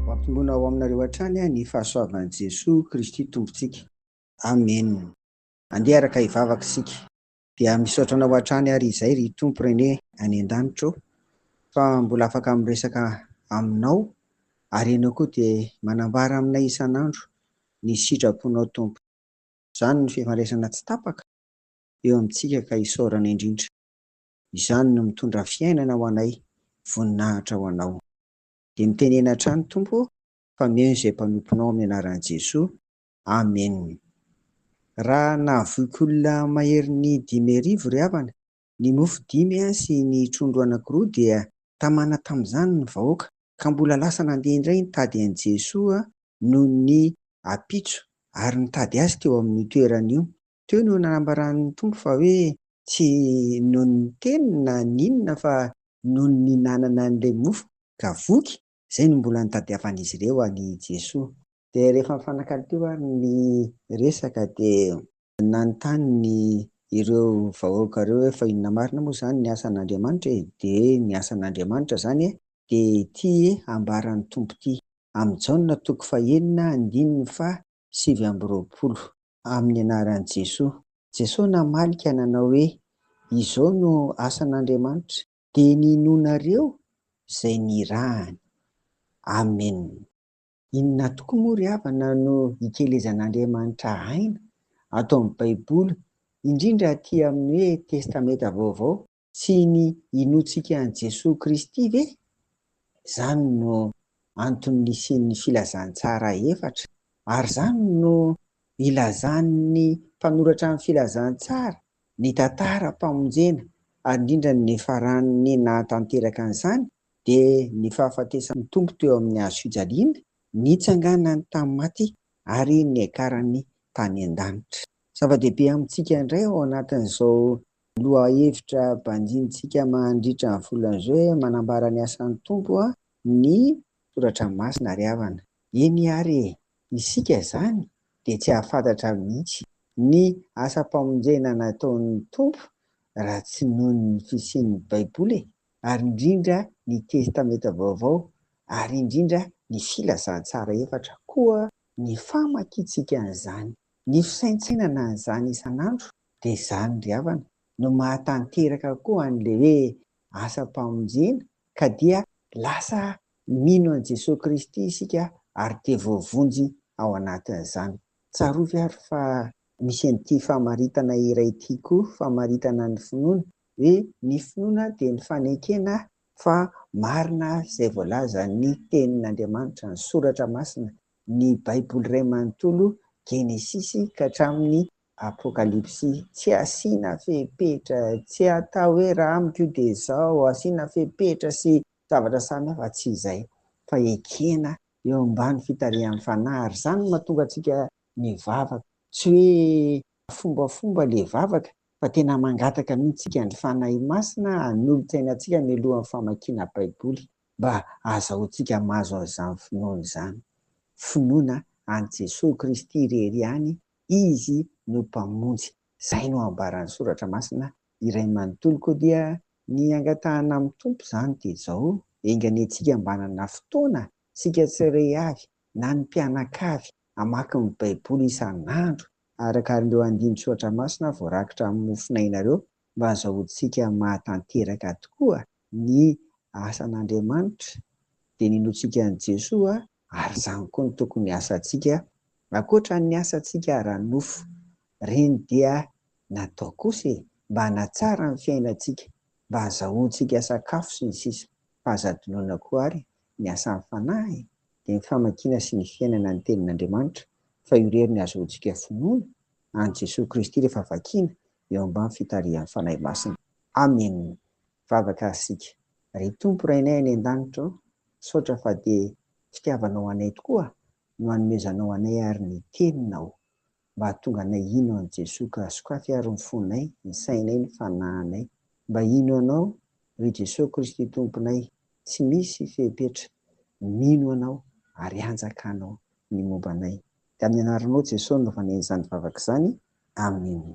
Ho ampinoana ao aminareo hatrany ny fahasoavan'i Jesoa Kristy Tompontsika. Amen. Andeha araka hivavaka isika. Dia misaotra anao hatrany ary izay ry Tompo René any an-danitra ô, fa mbola afaka miresaka aminao, ary ianao koa dia manambara aminay isan'andro ny sitraponao Tompo. Izany no fifandraisana tsy tapaka eo amintsika ka isaorana indrindra. Izany no mitondra fiainana ho anay, voninahitra ho Anao. Dia mitenena hatrany Tompo ô, fa omeo izay mpanomponao amin'ny anaran'i Jesoa, Amen. Raha nahavoiky olona maherin'ny dimy arivo ry havana, ny mofo dimy sy ny trondro anankiroa dia tamana tamin'izany ny vahoaka, ka mbola lasa nandeha indray nitady an'i Jesoa noho ny ampitso ary nitady Azy teo amin'io toerana io, Teo no nanambaran'ny Tompo fa hoe tsy noho ny teny na ny inona fa noho ny nihinanana an'ilay mofo ka voky, izay no mbola nitadiavan'izy ireo an'i Jesoa. Dia rehefa nifanakalo teo ary ny resaka dia nanontany ireo vahoaka ireo hoe fa inona marina moa izany ny asan'Andriamanitra e? Dia ny asan'Andriamanitra izany e, dia ity ambaran'ny Tompo ity, amin'ny Jaona toko fahenina andininy faha sivy amby roapolo. Amin'ny anaran'i Jesoa. Jesoa namaly ka nanao hoe, Izao no asan'Andriamanitra. Dia ny inoanareo izay nirahany. Amen. Inona tokoa moa ry havana no ikelezan'Andriamanitra aina ato amin'ny Baiboly, indrindra aty amin'ny hoe Testamenta Vaovao? Tsy ny inoantsika an'i Jesoa Kristy ve? Izany no antony nisian'ny Filazantsara efatra, ary izany no ilazan'ny mpanoratra ny Filazantsara, ny tantaram-pamonjena, ary indrindra ny niafaran'ny nahatanteraka an'izany dia ny fahafatesan'ny Tompo teo amin'ny hazofijaliana, nitsanganany tamin'ny maty, ary niakarany tany an-danitra. Zava-dehibe amintsika indray ao anatin'izao lohahevitra banjinintsika mandritra ny volana izao hoe manambara ny asan'ny Tompo ny soratra masina ry havana. Eny àry e! Isika izany dia tsy hahafantatra mihitsy ny asam-pamonjena nataon'ny Tompo raha tsy noho ny fisian'ny Baiboly e! ary indrindra ny Testamenta Vaovao ary indrindra ny Filazantsara efatra koa ny famakiantsika an'izany. Ny fisaintsainana an'izany isan'andro dia izany ry havana no mahatanteraka koa an'ilay hoe asam-pamonjena ka dia lasa mino an'i Jesoa Kristy isika ary dia voavonjy ao anatin'izany. Tsarovy ary fa misy an'ity famaritana iray ity koa, famaritana ny finoana, hoe ny finoana dia ny fanekena fa marina izay voalazan'ny Tenin'Andriamanitra, ny Soratra Masina, Ny Baiboly iray manontolo, Genesisy ka hatramin'ny Apokalypsy, tsy asiana fepetra, tsy atao hoe raha amiko io dia izao, asiana fepetra sy zavatra samihafa, tsy izay, fa ekena eo ambany fitarihan'ny Fanahy, ary izany no mahatonga antsika mivavaka, tsy hoe fombafomba ilay vavaka, fa tena mangataka mihitsy isika ny Fanahy Masina hanolotsaina antsika mialohan'ny famakiana Baiboly. mba hahazahoantsika mahazo an'izany finoana izany, finoana an'i Jesoa Kristy irery ihany Izy no Mpamonjy. Izay no ambaran'ny Soratra Masina iray manontolo koa dia ny angatahana amin'ny Tompo izany dia izao, enga anie tsika mba hanana fotoana isika tsirery avy na ny mpianakavy hamaky ny Baiboly isan'andro, araka ireo andinin-tsoratra masina voarakitra amin'ny mofon'ainareo, mba hahazahoantsika mahatanteraka tokoa ny asan'Andriamanitra dia ninoantsika an'i Jesoa ary izany koa no tokony hiasantsika ankoatra ny asantsika ara-nofo, ireny dia natao kosa e! mba hanatsara ny fiainantsika, mba hazahoantsika sakafo sy ny sisa fa aza adinoina koa ary ny asan'ny Fanahy e! dia ny famakiana sy ny fiainana ny tenin'Andriamanitra fa io irery no hazahoantsika finoana an'i Jesoa Kristy rehefa vakiana eo ambany fitarihan'ny Fanahy Masina. Amena. Vavaka ary isika. Ry Tompo Rainay any an-danitra ô, misaotra fa dia fitiavanao anay tokoa no hanomezanao anay ary ny Teninao mba hahatonga anay hino an'i Jesoa ka sokafy ary ny fonay, ny sainay, ny fanahinay mba hino Anao ry Jesoa Kristy Tomponay tsy misy fepetra, mino Anao ary hanjakanao ny momba anay. Dia amin'ny anaranao Jesoa no nanaovana izany vavaka izany. Amena.